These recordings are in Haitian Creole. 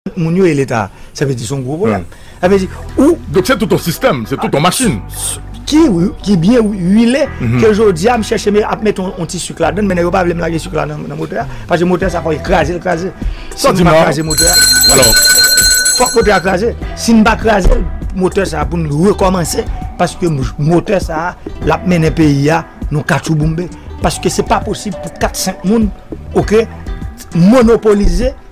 Tout moun yo e leta a. Sa vle di son gwo pwoblèm. Sa vle di ou. Donk se tout on sistèm, se tout on machin. Ki ki byen wile ke jodi a m chèche me ap mete on ti suk ladann men nèg yo pa vle m lage suk la nan motè a. Pase motè sa fò e kraze l kraze. Si m pa kraze motè a. Alò. Fòk motè a kraze. Si m pa kraze l motè sa pou n rekòmanse paske motè sa l ap mennen peyi a nan katchouboumbe. Paske se pa posib pou 4, 5 moun ok monopolize.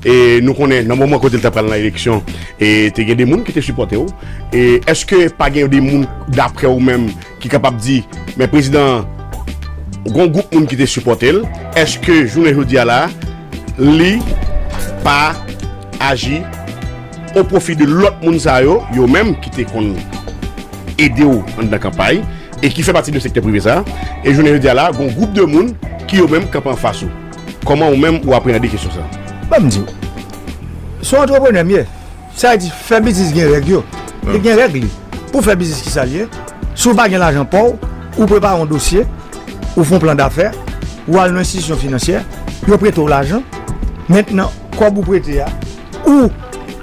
E nou konnen nan moman kote li ta pral nan eleksyon e te gen de moun ki te sipòte w. E eske pa gen de moun daprè ou menm ki kapab di men prezidan an gon gwoup moun ki te sipòte l. Eske jounen jodi a la li pa aji o pwofi de lòt moun sa yo, yo menm ki te konn ede w anndan kanpay e ki fè pati de sektè prive sa. E jounen jodi a la gon gwoup de moun ki yo menm kanpe anfas ou. Kòman ou menm ou apreande kesyon sa? Ban m di w. Se yon antreprenè m ye. Sa vle di fè biznis gen règ yo. Li gen règ li. Pou w fè biznis ki sa l ye? Si w pa gen lajan pa w, ou prepare yon dosye, ou fè yon plan dafè, ou al nan yon enstitisyon finansyè, yo prete w lajan. Mentnan kòb ou prete a, ou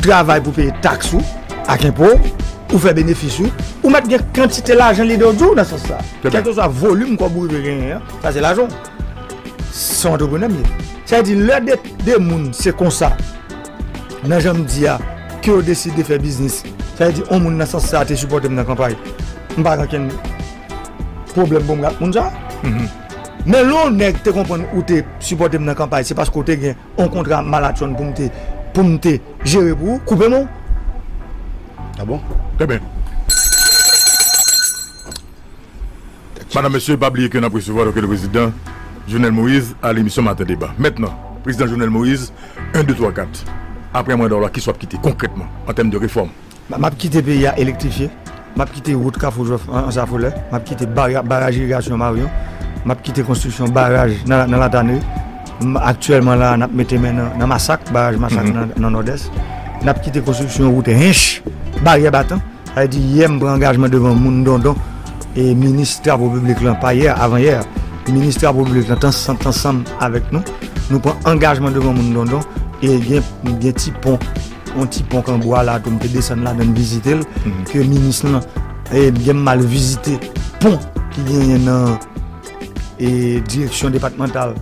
travay pou w peye taks ou ak enpo w, ou fè benefis ou, ou mèt gen kantite lajan lide w di w nan sans sa. Kèlkeswa volim kòb ou rive genyen an, sa se lajan w. Se yon antreprenè m ye. Sa vle di lè de moun se konsa nan jan m di a ke yo deside fè biznis, sa vle di yon moun nan sans sa te sipòte m nan kanpay, m pa gen okenn pwoblèm pou m gen ak moun sa. Men lè yon nèg te konprann ou te sipòte m nan kanpay se paske w te gen yon kontra malatchonn pou m te pou m te jere pou ou, koupe men w. A bon? Enben. Madam mesye pa bliye ke nap resevwa doke le prezidan Jovenel Moïse a lemisyon maten deba mentnan prezidan Jovenel Moïse 1 2 3 4 aprè manda w la kisa w ap kite konkrètman an tèm de refòm? Map kite peyi a elektrifye, map kite wout kafou jwèf ansafolè, map kite baraj irigasyon maryon, map kite konstriksyon baraj nan latanri, aktyèlman la nap mete men nan masak baraj masak nan nòdès, nap kite konstriksyon wout hinche baryè batan. Li di, Yè m pran angajman devan moun Dondon e minis travo piblik lan, pa yè, avan yè, minis travo piblik lan t ansanm avèk nou, nou pran angajman devan moun Dondon e gen ti pon, yon ti pon kan bwa la tou m te desann ladan vizite l ke minis lan e byen m al vizite pon ki genyen nan e direksyon depatmantal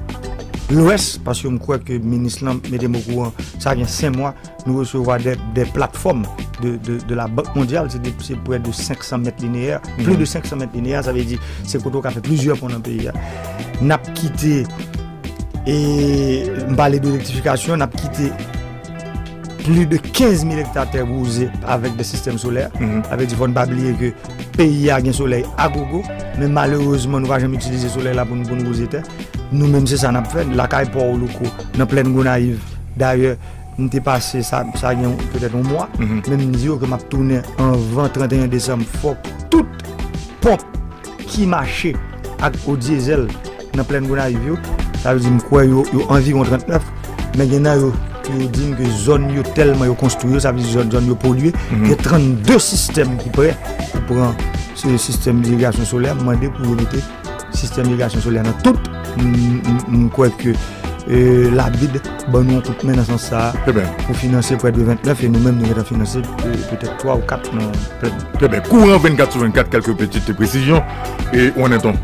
lwès paske m kwè ke minis lan mete m okouran sa gen 5 mwa. Nou resevwa de platfòm de la bank mondyal, se pre de 500 mèt lineyè, pli de 500 mèt lineyè, sa ve di se kote w ka fè plizyè pon nan peyi a. N ap kite, e m pale de elektrifikasyon, n ap kite pli de 15 mil ekta tè wouze avèk de sistèm solè. Sa ve di fò n pa bliye ke peyi a gen solèy a gogo, men malerezman nou pa janm itilize solèy la pou n wouze tè. Nou menm se sa n ap fè, lakay pa w louko, nan plèn Gonayiv dayè. M te pase sa gen petèt yon mwa, men m di yo ke m ap tounen anvan 31 desanm. Fòk tout ponp ki mache ak eau diesel nan plèn Gonayiv yo, sa vle di m kwè yo anviwon 39, men gen nan yo ki yo di m ke zòn yo tèlman yo konstwi yo, sa vle di zòn yo polye, gen 32 sistèm ki prè pou pran sistèm dirigasyon solè, m mande pou yo mete. Sistèm irigasyon solè nan tout, m kwè ke labid ban nou yon kout men nan sans sa a. Trè byen. Pou finanse prè de 29 e nou menm nou gentan finanse petèt 3 ou 4 nan prè. Trè byen. Kouran 24 sou 24 kèlke pitit presizyon e ou an nèt on.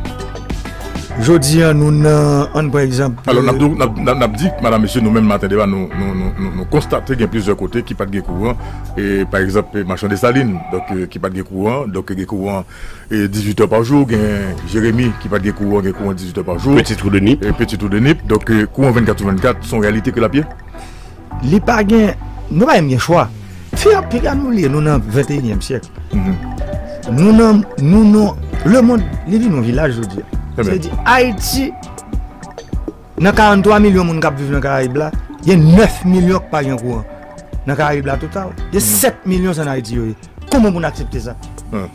Jodi an nou nan an prè egzanp. Alò n ap di madan mesye nou menm maten deba nou konstate gen plizyè kote ki pat gen kouran e pa egzanp machan Desalin donk ki pat gen kouran donk gen kouran 18 è pa jou, gen Jeremi ki pat gen kouran, gen kouran 18 è pa jou. Peti twou de nip. Peti twou de nip, donk kouran 24 sou 24 son reyalite ke lap ye? Li pa gen, nou pa menm gen chwa. Fi a piga nou li, nou nan 21 èm syèk. Nou nan, nou nan, le mond li vin yon vilaj jodi a. Sa vle di Ayiti. Nan 43 milyon moun k ap viv nan Karayib la, gen 9 milyon k pa gen kouran. Nan Karayib la total, gen 7 milyon se an Ayiti yo ye. Kouman pou n aksepte sa?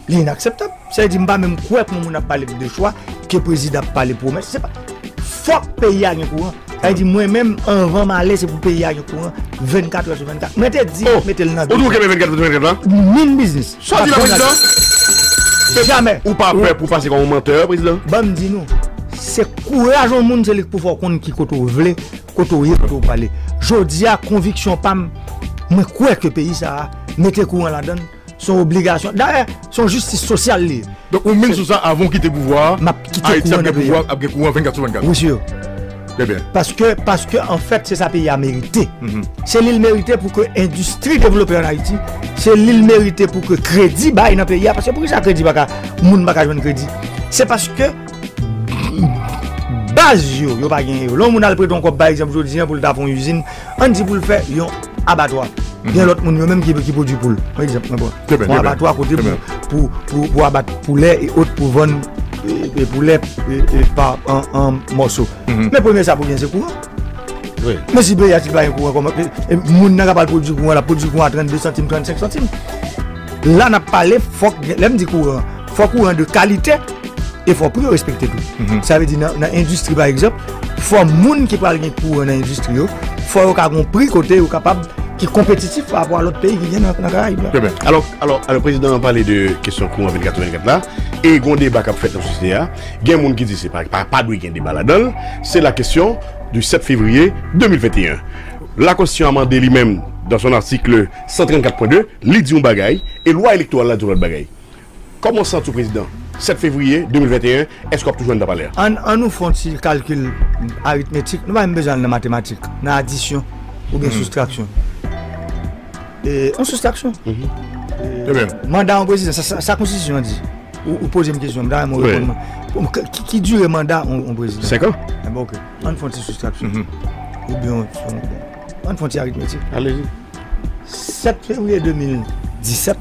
Li inakseptab. Sa vle di m pa menm kwè pou moun ap pale k de chwa, ke prezidan ap pale pwomès. Se pa Fòk peyi a gen kouran. Sa vle di mwen menm anvan m ale se pou peyi a gen kouran 24 è sou 24. Mwen te di mete l nan. Ou di w kenbe 24 è sou 24 la? Min biznis. Sa w di la prezidan? Jamè! Ou pa pè pou pase kòm yon mantè, prezidan? Ban m di nou, se kouraj yon moun se li k pou fè w konn ki kote w vle, kote w ye, kote w prale. Jodi a, konviksyon pa m, mwen kwè ke peyi sa a, mete kouran ladan l, se yon obligasyon. Dayè, se yon jistis sosyal li ye. Donk ou mine sou sa avan w kite pouvwa a, Ayiti ap gen kouran 24 sou 24? Wi, si yo. Paske, paske anfèt se sa peyi a merite. Se li l merite pou ke endistri devlope an Ayiti, se li l merite pou ke kredi bay nan peyi a, paske pou ki sa kredi pa ka, moun pa ka jwenn kredi? Se paske baz yo, yo pa gen yo. Lè yon moun al prete yon kòb pa egzanp jodi an pou l ta fè yon izin. Ann di pou l fè yon abatwa. Gen lòt moun yo menm ki pwodui poul. Pa egzanp, mwen bon. Trè byen, trè byen. Yon abatwa kote pou, pou, pou abat poulè e ot pou vann poulè pa an mòso. Men premye sa pou gen se kouran. Wi. Men si peyi a si pa gen kouran kòman, moun nan k ap al pwodui kouran l ap pwodui kouran a 32 santim, 35 santim. La n ap pale fòk gen, lè m di kouran. fòk ou rande kalite, e fòk pri yo respekte tou. Mhm. Sa vle di nan endistri pa egzop, fòk moun ki pral gen kou rande endistri yo, fòk yo ka gon pri kote yo kapab ki kompetitif pa apwa lòt peyi ki gen nan kara yi. Trè bè. Alò, alò, alò, prezidan an pale de kesyon kou an 24-24 la, e gon deba kap fèt nan sosyete a, gen moun ki di se pa, pa dwe gen deba la danl, se la kesyon du 7 fevriye 2021. La konstisyon amande li menm, dans son article 134.2, li di yon bagay, e lwa elektoral la di yon lòt bagay. Kòman w santi w prezidan, 7 fevriye 2021, èske w ap toujou anndan palè a? An nou fè yon ti kalkil aritmetik, nou pa menm bezwen al nan matematik, nan adisyon oubyen soustraksyon. Yon soustraksyon. Manda yon prezidan, sa konstitisyon an di? Ou poze m kesyon, m ta renmen w reponn mwen. Ki dire manda yon prezidan? 5 an. Enben ok, an nou fè yon ti soustraksyon. Oubyen an nou fè yon ti aritmetik. Alezi. 7 fevriye 2017,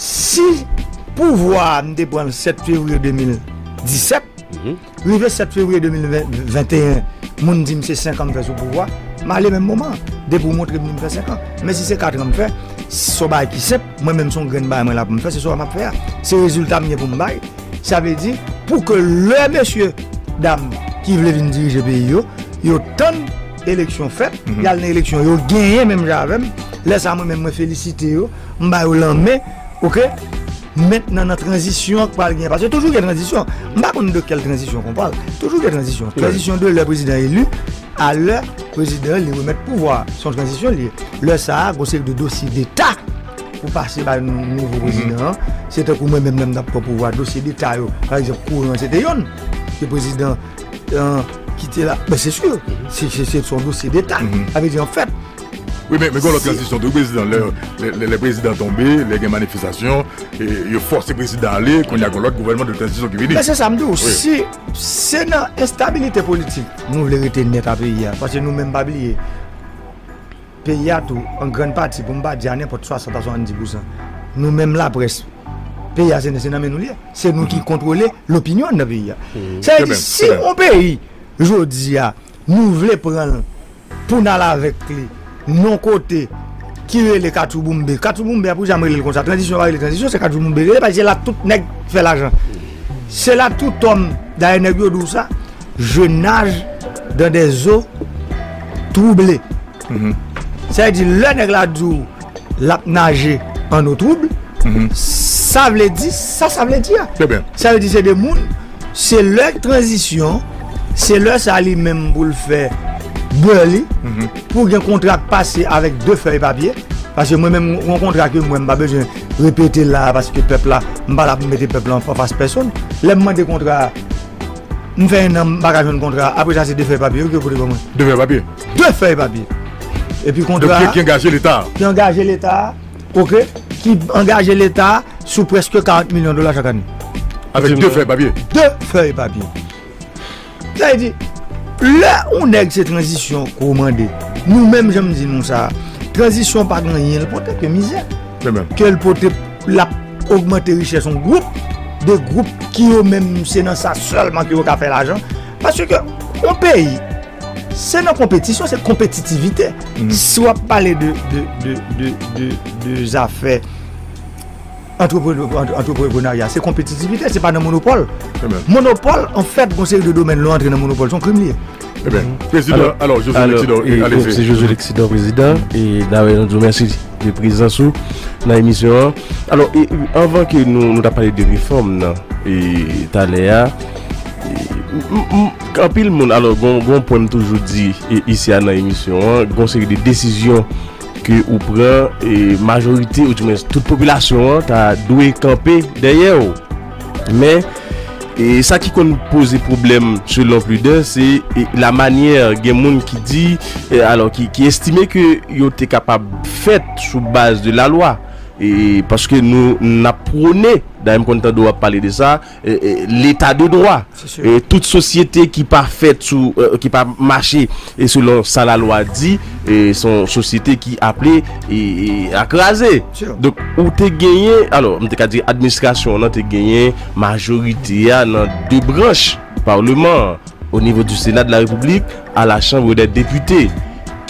Si pouvwa a m te pran l 7 fevriye 2017, rive 7 fevriye 2021, moun di m se 5 an m fè sou pouvwa, m ale menm moman an, depi w montre m di m fè 5 an. Men si se 4 an m fè, s on bagay ki senp, mwen menm s on grenn bagay mwen la pou m fè, se sa m ap fè a. Se rezilta m gen pou m bay. Sa vle di, pou ke lè mesye dam ki vle vin dirije peyi yo, yo tann eleksyon fèt, y al nan eleksyon, yo genyen menm jan avè m, lè sa mwen menm mwen felisite yo. m ba yo lanmen ok mèt nan nan tranzisyon k pral gen pase toujou gen tranzisyon m pa konn de kèl tranzisyon kon pral toujou gen tranzisyon tranzisyon de lè prezidan elu a lè prezidan li remèt pouvwa son tranzisyon li lè sa a gwo seri de dosye deta pou pase bay nouvo prezidan an se te kou mwen menm lè m tap pran pouvwa dosye deta yo pa egzanp kouran se te yonn ke prezidan an ki te la ben se si se son dosye deta avè di an fèt Wi men gen yon lòt tranzisyon tou wi prezidan, lè prezidan tonbe, lè gen manifestasyon, yo fòse prezidan ale, kounya gen yon lòt gouvènman de tranzisyon ki vini. Men se sa m di w, si se nan enstabilite politik nou vle rete nèt a peyi a, paske nou menm pa bliye peyi a tou an grann pati pou m pa di a nenpòt 60 a 70 pousan nou menm laprès, peyi a se nan men nou li ye, se nou ki kontwole lopinyon anndan peyi a. Sa vle di si yon peyi jodi a nou vle pran l. Poun al avèk li non kote ki rele katchouboumbe katchouboumbe a pou janm relel konsa tranzisyon pa rele tranzisyon se katchouboumbe rele paske se la tout nèg fè lajan se la tout òm dayè nèg yo di w sa je naj dan dè zo twouble sa vle di lè nèg la di w. lap naje an eau trouble sa vle di sa sa vle di a sa vle di se de moun se lè tranzisyon se lè sa li menm pou l fè bè li pou gen kontra k pase avèk de fèy papye paske mwen menm yon kontra ke mwen m pa bezwen repete la paske pèp la m pa la pou m mete pèp la anfas pèsonn lè m mande kontra m fè ennan m pa ka jwenn kontra apre sa se de fèy papye yo ki yo pote ban mwen de fèy papye. 2 fèy papye epi kontra ki angaje leta a ki angaje leta a ok ki angaje leta a sou preske 40 milyon dola chak ane avèk 2 fèy papye 2 fèy papye sa e di lè ou nèg se tranzisyon kou mande nou menm jan m di nou sa tranzisyon pa gen anyen l pote ke mizè ke l pote l ap ogmante richè son gwoup de gwoup ki yo menm se nan sa sèlman ki yo ka fè lajan paske yon peyi Se nan konpetisyon, se konpetitivite. Mm. Si w ap pale de zafè antreprenarya, se konpetitivite, se pa nan monopol. Eh monopol, an fèt, bon se yon domen lou antre nan monopol, son krim liye. Eh bien, mm-hmm. président, alors, José Lexidor, allez-y. C'est José Lexidor, président, et d'ailleurs, nous vous remercions de présence dans l'émission. Alors, et, avant que nous, nous parlions de réforme, et tout à l'heure, Anpil moun, alò gon yon pwen m toujou di isi a nan emisyon an, gon seri de desizyon ke ou pran e majorite ou di mwen tout popilasyon an ta dwe kanpe dèyè w. Men, e sa ki konn poze pwoblèm selon pli dè se la manyè gen moun ki di, alò ki estime ke yo te kapab fèt sou baz de la lwa. E paske nou n ap pwone, dayè m konn tande w ap pale de sa, leta de dwa, tout sosyete ki pa fèt sou, ki pa mache e selon sa la lwa di e son sosyete ki aple a kraze donk ou te genyen alò m te ka di administrasyon nan te genyen majorite a nan 2 branch parleman o nivo di sena de la repiblik a la chanbre de depute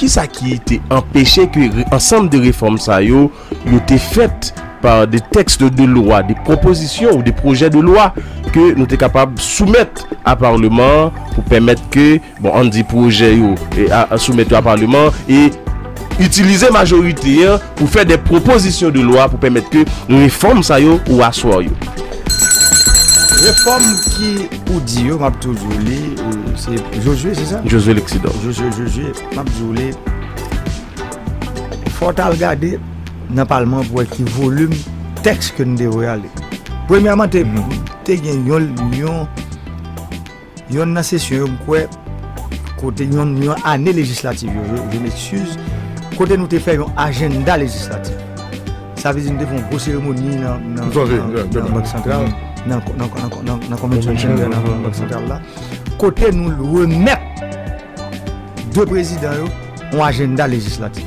ki sa ki te anpeche ke ansanm de reform sa yo yo te fèt pa de tèks de lwa, de pwopozisyon ou de pwojè de lwa ke nou te kapab soumèt a Parleman an pou pèmèt ke, bon, ann di pwojè yo soumèt yo a Parleman an e itilize majorite an pou fè de pwopozisyon de lwa pou pèmèt ke refòm sa yo ou aswa yo. Refòm ki ou di yo, m ap toujou li, se Josue, se sa? Josue Lexidor. Josue, Josue, m ap di w li. Fò w t al gade nan palman pou wè ki volim tèks ke nou te voye ale. Premyèman te te gen yon yon yon nan sesyon yo m kwè kote yon yon ane lejislatif yo yo je m'excuse kote nou te fè yon ajenda lejislatif. Sa vle di nou te fè yon gwo seremoni nan nan nan bank santral nan nan nan nan konvensyon santral nan bank santral la kote nou remèt 2 prezidan yo yon ajenda lejislatif.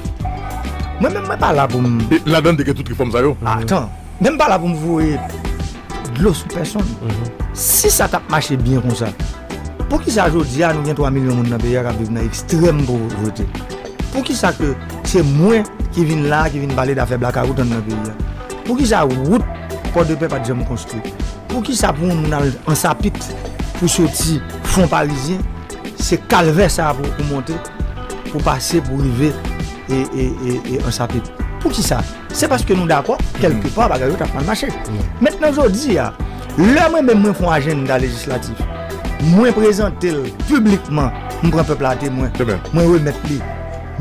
Mwen menm mwen pa la pou m. E ladan l te gen tout refòm sa yo? Atan, men m pa la pou m voye dlo sou pèsonn. Si sa t ap mache byen konsa, poukisa jodi a nou gen 3 milyon moun nan peyi a k ap viv nan ekstrèm povrete? Poukisa ke se mwen ki vin la a ki vin pale dafè blakawout anndan peyi a? Poukisa wout Pòdepè pa t janm konstwi? Poukisa pou yon moun al Ansapit pou soti Fonparizyen, se kalvè sa a pou w monte? Pou pase pou rive e ansape. Pou ki sa? Se paske nou dakò kelke pa bagay yo tap mal mache. Met nan jodi a, lè mwen menm mwen fon ajenda lejislatif, mwen prezante l piblikman, m pran pèp la a temwen, mwen remèt li,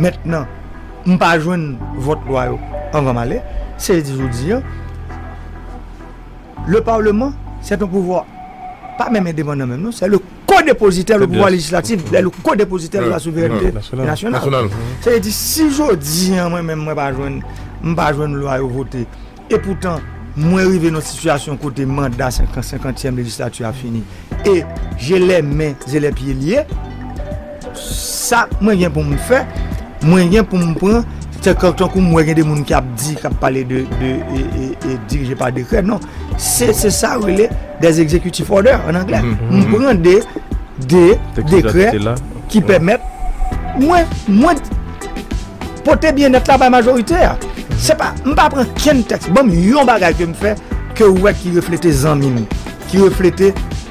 met nan m pa jwenn vòt lwa yo anvan m ale, se vle di jodi a, le parlement, se ton pouvwa pa menm endepandan menm non, se le. Ko-depozitè le pouvwa lejislatif lè li ko-depozitè de la souverènte nasyonal. Sa vle di si jodi an mwen menm mwen pa jwenn m pa jwenn lwa yo vote e poutan mwen rive nan sitiyasyon kote manda senkantyèm lejislati a fini e je lè men je lè pye lye. Sak mwen gen pou m fè, mwen gen pou m pran, se kòk tankou m wè gen de moun ki ap di, k ap pale de dirije pa dekrè, non, se se sa yo rele des executive order an anglè, m pran de de dekrè ki pèmèt mwen mwen pote byennèt la bay majorite a, se pa, m pa pran kenn tèks, ban m yon bagay ke m fè ke ou wè ki reflete zanmi m, ki reflete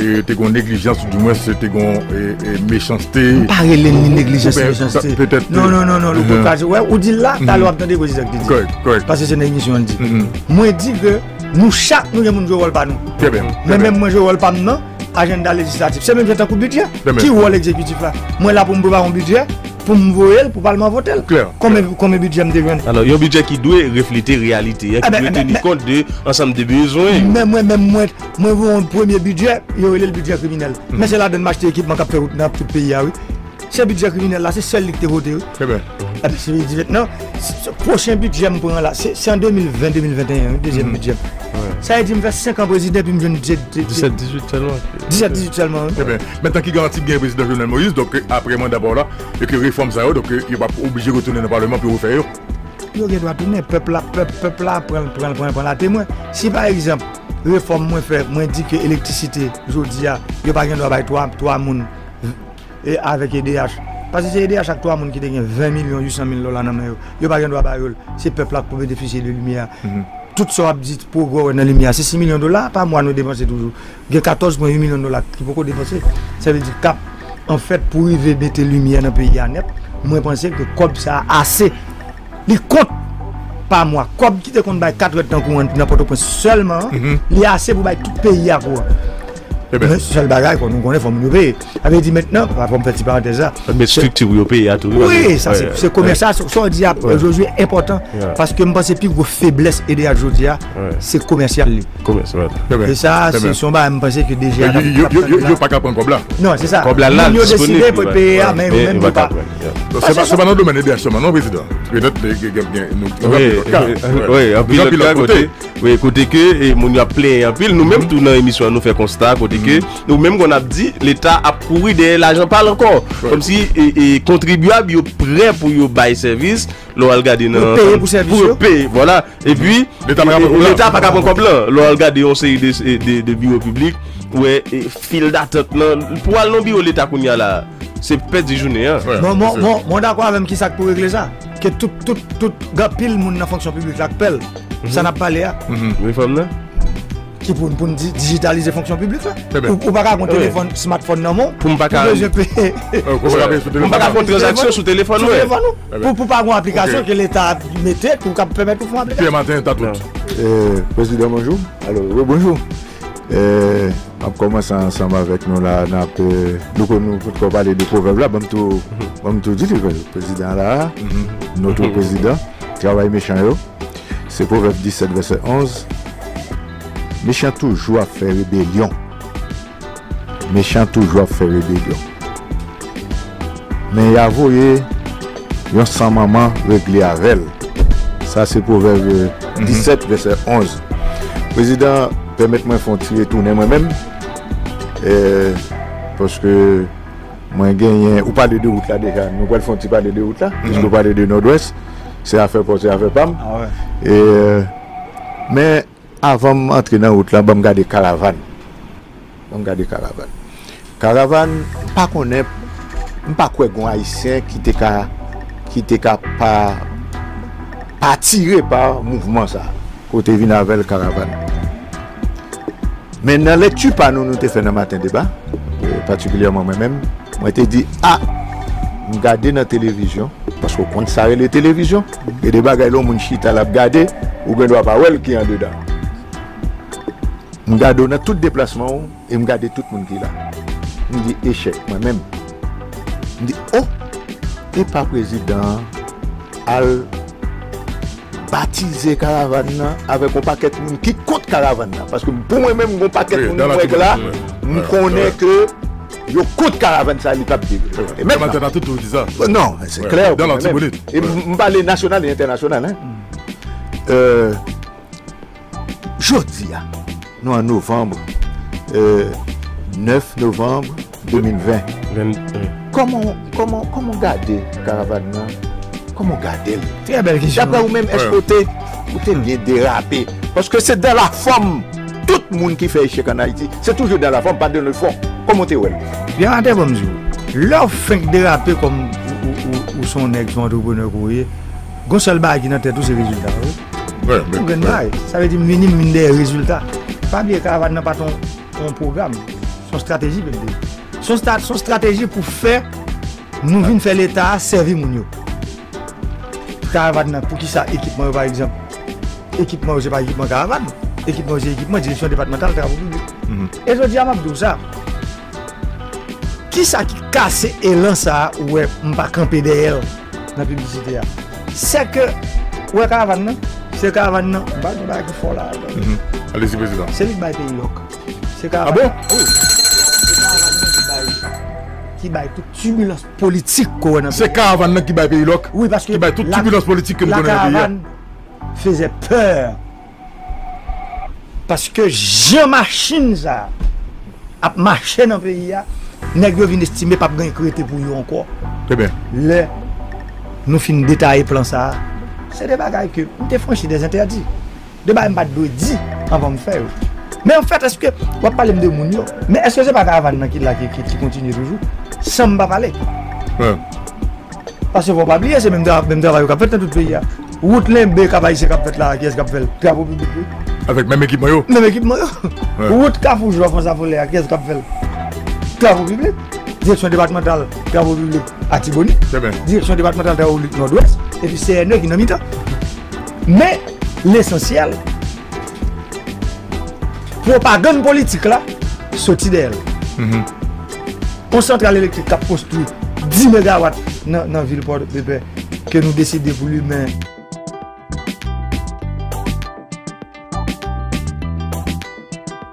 Te gon neglijans ou di mwen se te gon mechanste. M pa rele ni neglijans ni mechanste. Petèt. Non, non, non, non, louko kaze. Wè, ou di l la, talè w ap tande Gozizak te di. Kòrèk, kòrèk. Pase se nan emisyon l di. Mwen di ke nou chak nou gen pou nou jwe wòl pa nou. Trè byen. Men menm mwen jwe wòl pa m nan ajenda lejislatif. Se menm jan tankou bidjè. Trè byen. Ki wòl egzekitif la? Mwen la pou m prepare yon bidjè, pou m voye l, pou palman vote l. Klè. Konbyen, konbyen bidjè m te jwenn? Alò, yon bidjè ki dwe reflete reyalite a, ki dwe teni kont de ansanm de bezwen yo. Men mwen menm mwen. Mwen voye yon premye bidjè, yo rele l bidjè kriminèl. Men se ladann m achte ekipman k ap fè wout nan tout peyi a wi. Se bidjè kriminèl la, se sèl li ki te vote wi. Trè byen. Epi se li di mentnan, pwochen bidjè m pran la, se an 2020, 2021 wi, dezyèm bidjè m. Sa vle di m fè 5 an prezidan epi m jwenn 17, 18 sèlman. 17, 18 sèlman wi. Trè byen. Mentnan ki garanti k gen yon prezidan Jovenel Moïse, donk ke aprè manda pa w la, e ke refòm sa yo, donk ke yo p ap oblije retounen nan paleman pou yo refè yo? Yo gen dwa tounen. Pèp la, pèp, pèp la pran l, pran l, pran l, pran l atemwen. Si pa egzanp. Refòm mwen fè, mwen di ke elektrisite jodi a, yo pa gen dwa bay 3 moun avèk edh. Paske se edh ak 3 moun ki te gen 20 milyon 800 mil dola nan men yo. Yo pa gen dwa ba yo l. Se pèp la k pou benefisye de limyè a. Tout sa w ap di, pwogrè w wè nan limyè a, se 6 milyon dola pa mwa nou depanse toujou. Gen 14 pwen 8 milyon dola ki poko depanse. Sa vle di k ap an fèt pou rive mete limyè nan peyi a nèt. Mwen panse ke kòb sa a ase. Li kont pa mwa. Kòb ki te konn bay 4 rèd tan kouran nan Pòtoprens sèlman an, li ase pou bay tout peyi a kouran. Men sèl bagay nou konnen fò moun yo peye. Sa vle di mentnan, fò m fè ti parantèz la. Fò n met estrikti pou yo peye a tou. Wi, sa se se komès la. Sa w di a Jozye enpòtan paske m panse pi gwo feblès edh jodi a se komèsyal li. Komès wè. E sa se son bagay m panse ke DG a. Yo pa ka pran kòb la. Non se sa. Kòb la la disponib. Moun yo deside pou yo peye a men yo menm yo pa. Se pa nan domèn edh sèlman non prezidan. Petèt gen anpil ka. Wi anpil lòt ka kote. Wi kote ke moun yo ap plenyen anpil. Nou menm tou nan emisyon an nou fè konsta kote ke nou menm kon ap di leta ap kouri dèyè lajan pa l ankò. Kòm si kontribyab yo prè pou yo bay sèvis. Lè w al gade nan. Pou peye pou sèvis yo. Pou peye vwala. E pi. Leta pa ka pran kòb lan. Leta pa ka pran kòb lan. Lè w al gade yon seri de biwo piblik ou wè. Fil datant lan pou al nan biwo leta kounya la se pèdi jounen an. Bon bon bon bon w dakò avèm kisak pou regle sa ke tout tout tout gen anpil moun nan fonksyon piblik la k pèl sa nap pale a Refòm nan? ki pou pou n di dijitalize fonksyon piblik la ou ou paka gon telefòn smartphone nan men w pou bezwen peye m pa ka fon tranzaksyon sou telefòn mwen pou pou pa gon aplikasyon ke leta mete pou kab pèmèt ou fon aplikasyon Pyè Maten Tatout Prezidan bonjou alo bonjou Map komanse ansanm avèk nou la nap louko nou potko pale de pwovèb la banm tou banm tou di louko prezidan la notre prezidan travay mechan yo se pwovèb 17 vèsè 11 mechan toujou ap fè rebelyon. Mechan toujou ap fè rebelyon. Men ya voye yon san manman regle avè l. Sa se Pwovèb 17 vèsè 11. Prezidan pèmèt mwen fè yon ti retounen mwen menm paske mwen genyen, ou pale de wout la deja, nou pral fè yon ti pale de wout la piske ou pale de Nòdwès. Se afè pa w se afè pa m. Men. Avanm antre nan wout lan banm gade karavann banm gade karavann karavann mpa konnen mpa kwè gon ayisyen ki te ka ki te ka pa pa atire pa mouvman sa kote vin avèl karavann men nan lekti pa nou nou te fè nan maten deba patikilyèman mwen menm mwen te di a m gade nan televizyon paske ou konn sa rele televizyon. Gen de bagay lè yon moun chita lap gade ou gen dwa pa wèl ki andedan. M gade w nan tout deplasman w e m gade tout moun ki la. M di echèk mwen menm. M di oh epa prezidan an al batize karavan nan avèk yon pakèt moun ki kont karavan nan paske pou mwen menm gon pakèt moun m wè k la m konnen ke Yo kont karavan sa li pap di wi. Yo te mèt la. Non, se klè. Dans l'Artibonite. E m pale nasyonal e entènasyonal. Jodi a, nou an novembre, 9 novembre 2020. Koman, koman, koman w gade karavan nan? Koman w gade l? Trè bèl kesyon. Daprè ou menm, èske ou te, ou te byen derape? Paske se dan la fòm tout moun ki fè echèk an Ayiti se toujou dan la fòm pa dan le fon kòman w te wè l. Byenate banm di w, lè w fenk derape kòm ou son nèg son antreprenè ke w ye gon sèl bagay ki nan tèt ou se rezilta wi, ou gen bagay sa vle di m vini m vin dèyè rezilta pa bliye karavàn nan pa t on pwogram son strateji ke l te ye son strateji pou fè nou vin fè leta a sèvi moun yo. Karavan nan poukisa ekipman yo pa egzanp ekipman yo se pa ekipman karavan ekipman yo se ekipman direksyon depatmantal travo piblik e jodi a map diw sa kisa ki kase elan sa ou wè m pa kanpe dèyèl nan piblisite a se ke ou wè karavan nan se karavan nan m pa di bagay ki fò la alezi prezidan se li ki bay peyi lòk se karavan nan ki bay tout tibilans politik ko wè nan peyi a. Se karavan nan ki bay peyi lòk, ki bay tout tibulans politik ke nou konnen nan peyi a. La karavan fezè peur. Paske jan machin sa a ap mache nan peyi a, nèg yo vin estime pap gen ki rete pou yo ankò. Lè nou fin detaye plan sa a, se de bagay ke nou te franchi de zentèdi. De bagay m pat dwe di anvan m fè yo. Men anfèt èske w ap pale m de moun yo? Men èske se pa karavan nan ki la ki kontinye toujou san m pa pale? Paske fò w pa bliye se menm travay yo k ap fèt nan tout peyi a. Wout Lenbe Kap Ayisyen k ap fèt la a kiyès k ap fè l? Travaux Publics wi. Avèk menm ekipman yo? Menm ekipman yo. Wout Kafou Jwa Frans Afolè a kiyès k ap fè l? Travaux Publics. Direksyon depatmantal travaux publics Atibonit. Direksyon depatmantal travaux publics Nòdwès epi CNE ki nan mitan. Men, lesansyèl, pwopagann politik la soti dèyè l. Yon santral elektrik k ap konstwi 10 megawat nan vil Pòdepè ke nou deside pou limen.